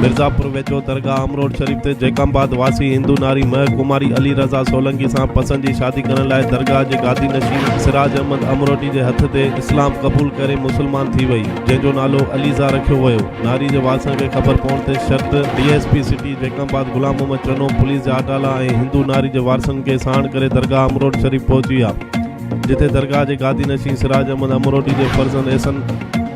مرزاپور ويجهو درگاهه امروٽ شريف تي جيڪب آباد واسي هندو ناري مهر ڪماري علي رضا سولنگي سان پسند جي شادي ڪرڻ لاء درگاهه جي گادي نشين سراج احمد امروٽي جي هٿ تي اسلام قبول ڪري مسلمان ٿي وئي جنهن جو نالو عليزا رکيو ويو ناري جي وارثن کي خبر پوڻ تي شرط D S P city Jacobabad Ghulam Muhammad Channo police جا اٽالا ۽ هندو ناري جي وارثن کي ساڻ ڪري درگاهه امروٽ شريف پهچي ويا جتي درگاهه جي گادي نشين سراج احمد امروٽي جي فرزند احسن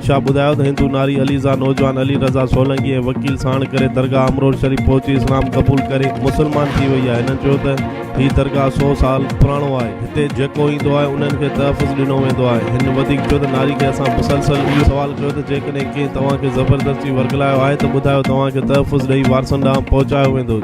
شاهه ٻڌايو ته هندو ناري عليزا نوجوان علي رضا سولنگي ۽ وڪيل ساڻ ڪري درگاهه امروٽ شريف پهچي اسلام قبول ڪري مسلمان ٿي وئي آهي هنن چيو ته هي درگاهه سو سال پراڻو آهي هتي جيڪو ايندو آهي انهن کي تحفظ ڏنو ويندو آهي هن وڌيڪ چيو ته ناري کي اسان مسلسل اهو سوال ڪيو ته جيڪڏهن ڪنهن توهان کي زبردستي ورغلايو آهي ته ٻڌايو توهان کي تحفظ ڏئي وارثن ڏانهن پهچايو ويندو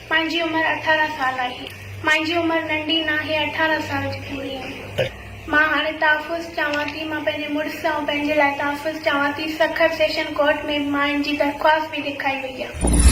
مانجي عمر اٺارهن سال آهي. مانجي عمر ننڍي ناهي اٺارهن سال جي پوري آهي. مان هاڻي تحفظ چاهيان ٿي. مان پنهنجي مڙس ۽ پنهنجي لاء تحفظ چاهيان ٿي. سکر سيشن ڪورٽ ۾ به مان ان جي درخواست به لکائي وئي آهي.